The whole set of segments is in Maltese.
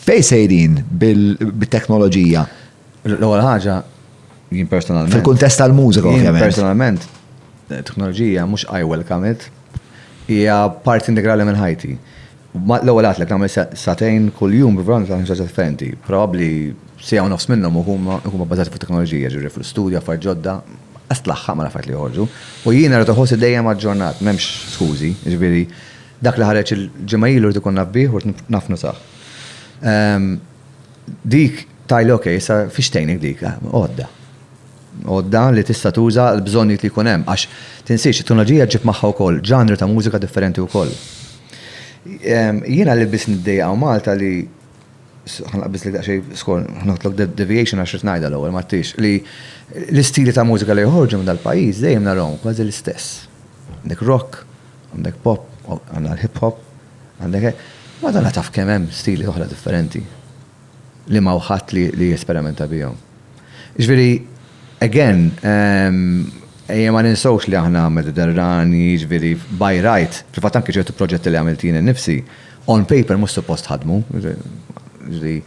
Fejn sejrin bit-teknoloġija? L-ewwel ħaġa jien personalment. Fil-kuntest tal-mużika ovvjament. Personalment, teknoloġija mhux I welcome it. Hija parti integrali minn ħajti. L-ewwel għad lek nagħmel satejn kuljum b'vant ta' ħaġa differenti. Probabbli sija u nofs minnhom huma bbażati fuq teknoloġija, ġifieri fl-istudja, affarijiet ġodda, għas tlaħħaq ma' affarijiet li joħorġu. U jiena rrid iħossni dejjem aġġornat, m'hemmx skużi, ġifieri Dak li ħareġ il-ġimgħa ilu rrid ikun naf bih u rrid naf nużah. Dik tgħidli ok, issa fiex tgħinik dik? Għodda. Għodda li tista' tuża l-bżonnijiet li jkun hemm għax tinsiex it-teknoloġija ġġib magħha wkoll ġanri ta' mużika differenti wkoll. Jiena li biss niddejjaq hawn Malta li ħa naqbiżlek daqsxejn skor, ħa noħodlok deviation għax rrid ngħidha l-ewwel ma tix, li l-istili ta' mużika li joħorġu minn dal-pajjiż dejjem narahom kważi l-istess. Dik rock, Għandek pop, għandna l-hip hop, għandek hekk. Madonna taf kemm hemm stili oħra differenti li ma ħadd li jesperimenta bihom. Ġifieri, again, ehm, ejja ma ninsawx li aħna Mediterrani, ġifieri, by right, fil-fatt anke ċertu proġetti li għamiltina nifsi, on paper mhux suppost ħadmu, ġifieri,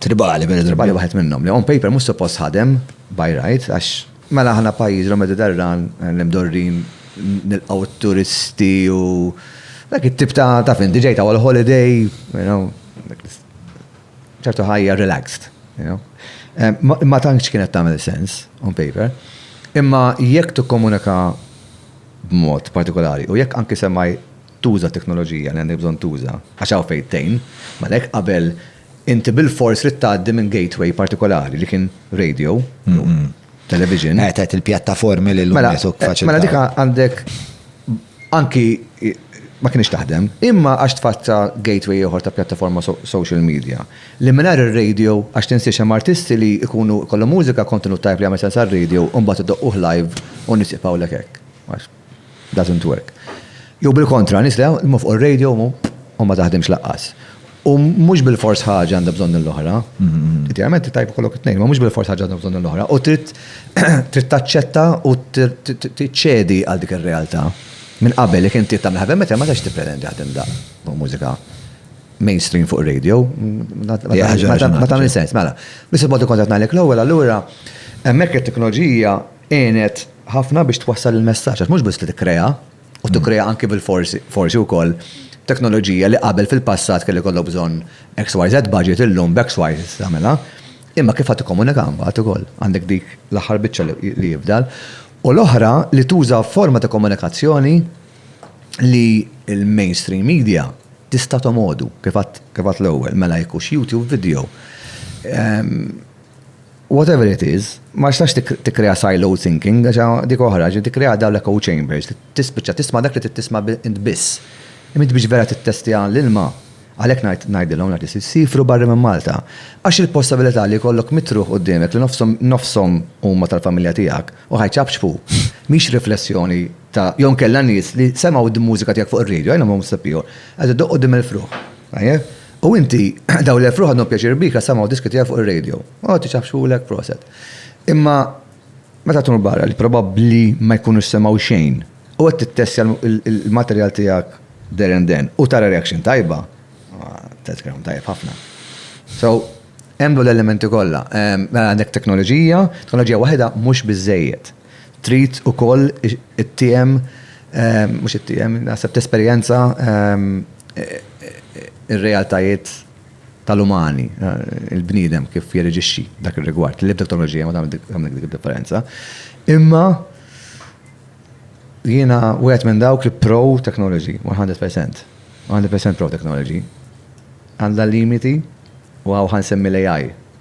tribali, vera tribali waħed minnhom li on paper mhux suppost ħadem by right għax mela aħna pajjiż l-Mediterran li mdorrin nilqgħu t-turisti u dak it-tip ta' ta' fin diġej ta' għal holiday, you know, ċertu ħajja relaxed, you know. Eh, ma tantx kienet tagħmel sens on paper. Imma jekk tikkomunika b'mod partikolari u jekk anki semmaj tuża t-teknoloġija li għandek bżonn tuża għax hawn fejn tgħin, għalhekk qabel inti bilfors trid tgħaddi minn gateway partikolari li kien radio jew television. Eh, tgħid il-pjattaformi li llum Mela, qed faċilitaw. mela dika għandek anki ma kienx taħdem, imma għax tfatta gateway ieħor ta' pjattaforma so- social media li mingħajr ir-radio għax tinsiex hemm artisti li jkunu kollhom mużika kontenut tajb li jagħmel sens għar-radio u mbagħad idoqquh live u nies jibqgħulek hekk. Għax doesn't work. Jew bil-kontra, nies li jaħdmu fuq ir-radio u ma taħdimx lanqas. U mhux bilfors ħaġa għandha bżonn l-oħra. Idealment tajjeb ikollok it-tnejn, imma mhux bilfors ħaġa għandha bżonn l-oħra. U trid taċċetta u tiċċedi għal dik ir-realtà. Minn qabel jekk inti tagħmel heavy metal ma tistax tippretendi li taħdem daqs mużika mainstream fuq ir-radio. Ma tagħmel sens. Mela, biex il-mod ikun qed ngħidlek l-ewwel allura hemmhekk it-teknoloġija għenet ħafna biex twassal il-messaġġ għax mhux biss li tikkrea u tikkrea anki bil-forsi, forsi wkoll teknoloġija li qabel fil-passat kelli jkollok bżonn XYZ budget illum b'XY tista' tagħmilha. Imma kif ħa tikkomunika mbagħad ukoll? Għandek dik l-aħħar biċċa li jifdal. U l-oħra li tuża forma ta' komunikazzjoni li l-mainstream media tista' tomgħodu kif għedt kif għedt l-ewwel mela jekk hux YouTube video. Whatever it is, ma tistax tikkrea siloed thinking għax dik oħra, ġifieri tikkrea dawn l-echo chambers li tispiċċa tisma' dak li trid tisma' int biss. Imma int biex vera tittestja l-ilma, għalhekk ngħid ngħidilhom l-artisti siefru barra minn Malta. Għax il-possibilità li jkollok mitt ruħ qudiemek li nofshom nofshom huma tal-familja tiegħek u ħa jċapċpu, mhix riflessjoni ta' jew inkella nies li semgħu d-mużika tiegħek fuq ir-radio, I know most of you, qed idoqq quddiem il-fruħ. U inti, dawn l-elf ruħ għandhom pjaċir bik għax samgħu diski tiegħek fuq ir-radio. O, tiċaħħxulek, proset. Imma meta tmur barra li probabbli ma jkunux semgħu xejn u qed tittestja l-materjal tiegħek there and then u tara reaction tajba, tgħid kemm tajjeb ħafna. So, hemm dawn l-elementi kollha. Mela għandek teknoloġija, teknoloġija waħedha mhux biżżejjed. Trid ukoll ittiehem, mhux ittiehem, naħseb tesperjenza r-realtajiet tal-umani, il-bniedem kif jirreġixxi f'dak ir-rigward. L-ebda teknoloġija ma tagħmel dik id-differenza. Imma jiena wieħed minn dawk li pro technology, 100%. 100% pro technology. Għandha limiti u hawn ħa nsemmi l-AI.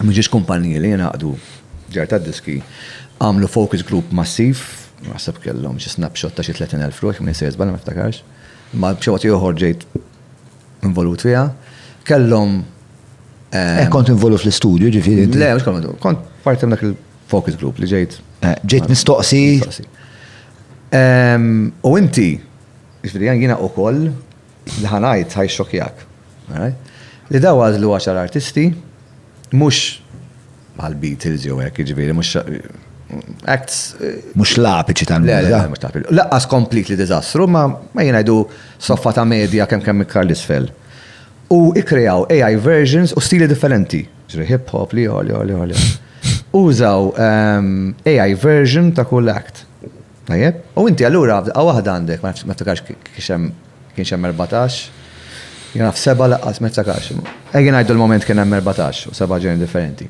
Mhux kumpaniji li jingħaqdu ġar tad-diski għamlu focus group massiv, naħseb kellhom xi snapshot ta' xi 30,000 ruħ, jekk m'ninsejx żball ma niftakarx, imma b'xi mod ieħor ġejt involut fiha. Kellhom Eh, kont involut fl-istudju, ġifieri. Le, mhux kont kont parti dak il-focus group li ġejt. Eh, ġejt mistoqsi. U inti, ġifieri jiena ukoll Li ħa ngħid ħa jxxokkjak. Li dawn għażlu għaxar artisti, mhux bħal Beatles jew hekk, jiġifieri mhux acts. Mhux l-apiċi tal-mużika. Le, mhux l-apiċi. Laqqas completely diżastru, ma jien ngħidu soffa ta' medja kemm kemm iktar l-isfel. U kkreaw AI versions u stili differenti. Ġri hip hop li għoli għoli għoli. Użaw AI version ta' kull act. Tajjeb. U inti allura f'daqqa waħda għandek, ma nafx, ma niftakarx kienx hemm, kienx hemm erbatax, jien naf seba' laqqas, ma niftakarx. Ejja ngħidu l-mument kien hemm erbatax u seba' ġeneri differenti.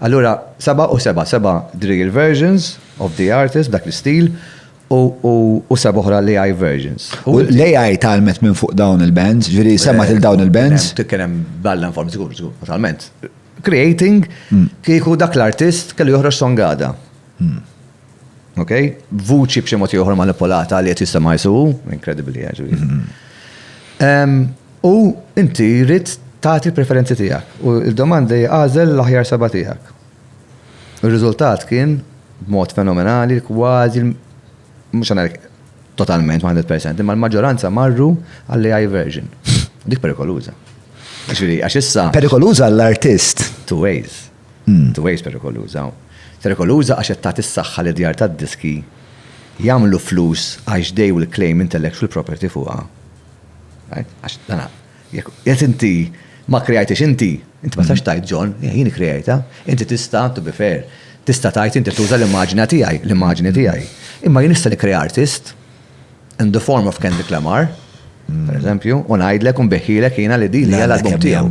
Allura seba' u seba', seba' drill versions of the artist b'dak l-istil u u seba' oħra l-AI versions. U l-AI tgħallmet minn fuq dawn il-bands, jiġifieri semgħet lil dawn il-bands? Kien hemm bella inform, żgur, żgur, totalment. Creating kieku dak l-artist kellu joħroġ song għada. Ok? Vuċi b'xi mod ieħor manipolata li qed jistema' jsu, inkredibbli ġifieri. U inti jrid tagħti l-preferenzi tiegħek u d-domanda hi għażel l-aħjar seba' tiegħek. Ir-riżultat kien b'mod fenomenali kważi mhux se ngħid totalment 100% imma l-maġġoranza marru għall-AI version. Dik perikoluża. Ġifieri għax issa. Perikoluża għall-artist. Two ways. Two Ways perikoluża. Perikoluża għax qed tagħti s-saħħa li djar tad-diski jagħmlu flus għax they will claim intellectual property fuqha. Right? Għax dana, jekk qed inti ma kkreajtiex inti, inti ma tistax tgħid John, eh, jien ikkreajtha. Inti tista', to be fair, tista' tgħid inti tuża l-immaġina tiegħi, l-immaġini tiegħi. Imma jien nista' nikkrea artist, in the form of Kendrick Lamar, per eżempju, u ngħidlek u nbeħħilek jiena li din hija l-album tiegħu.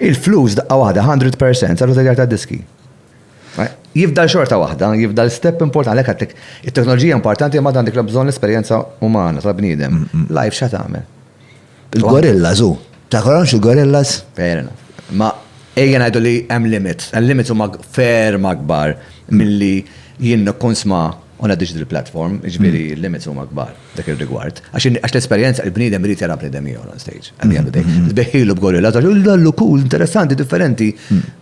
Il-flus daqqa waħda 100% saru tagħjar tad-diski. Jifdal xorta waħda, jifdal step importanti għalhekk għattek. It-teknoloġija importanti ma għandek bżonn l-esperjenza umana tal-bniedem. Live xa tagħmel. Il-gorillas u. Taħħorhomx il-gorillas? Fair enough. Ma ejja ngħidu li hemm limit. Il-limits huma ferm akbar milli jien nkun sma' u ngħaddi xi dil-platform, jiġifieri l-limits huma kbar dak ir-rigward. Għax l-esperjenza il-bniedem irid jara bniedem ieħor on stage. At the end of the day. Tbeħħilu b'gorillas għax hu dallu cool, interessanti, differenti.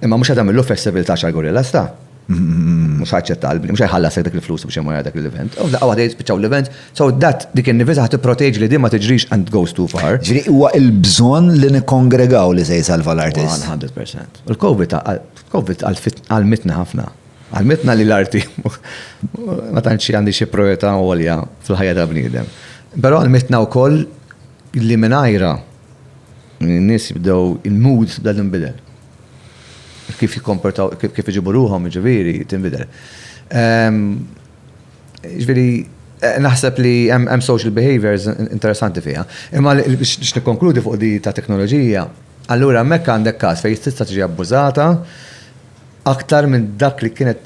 Imma mhux qed tagħmillu festival ta' għaxar gorillas ta'. Mhux ħaċċetta qalbi, mhux ħajħallasek dak il-flus biex imur dak l-event. U f'daqqa waħda jispiċċaw l-event, so dat dik in-nifisa ħad tipproteġi li din ma tiġrix and goes too far. Ġifieri huwa l-bżonn li nikkongregaw li se jsalva l-artist. 100%. U l-COVID covid għalmitna ħafna. Għalmitna li l-arti ma tantx għandi xi priorità għolja fil-ħajja ta' bniedem. Però għalmitna wkoll li mingħajra n-nies bdew il-mood bdew inbidel. kif jikkomportaw, kif iġibu ruħhom, jiġifieri, tinbidel. Jiġifieri, naħseb li hemm social behaviors interessanti fiha. Imma biex nikkonkludi fuq din ta' teknoloġija, allura hemmhekk għandek każ fejn tista' tiġi abbużata aktar minn dak li kienet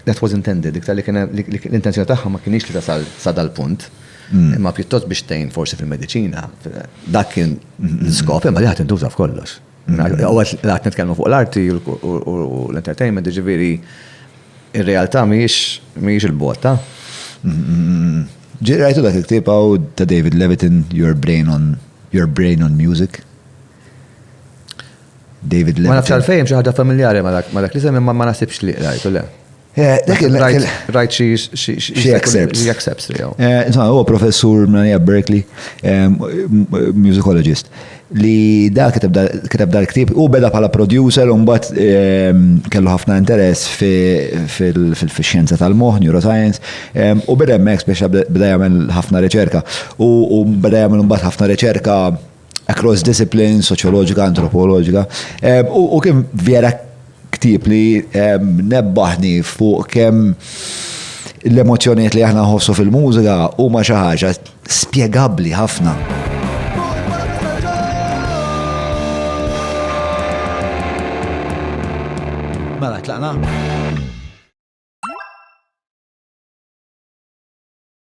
That was intended, iktar li kien l-intenzjoni tagħha ma kinitx li tasal sa dal-punt, imma pjuttost biex tgħin forsi fil-mediċina. Dak kien l-iskop, imma li ħa tintuża f'kollox. Ewwel qed nitkellmu fuq l-arti u l-entertainment, jiġifieri r-realtà mhijiex il-bogħod. Ġej rajtu dak il-ktieb hawn ta' David Levitin, Your Brain on Music? David Levy. Ma nafx għalfejn xi ħaġa familjari ma dak li semmi ma nasibx li rajtu le. Rajt xi xi accepts li Insomma, huwa professur minn Berkeley, musicologist, li da kiteb dal-ktib u beda bħala producer u mbagħad kellu ħafna interess fil-xjenza tal-moħħ, neuroscience, u beda hemmhekk speċa beda jagħmel ħafna riċerka. U beda jagħmel mbagħad ħafna riċerka across disciplines, soċjoloġika, antropoloġika, u kien vera ktib li nebbaħni fuq kemm l-emozjoniet li aħna nħossu fil-mużika huma xi ħaġa spjegabbli ħafna. Mela, tlaqna?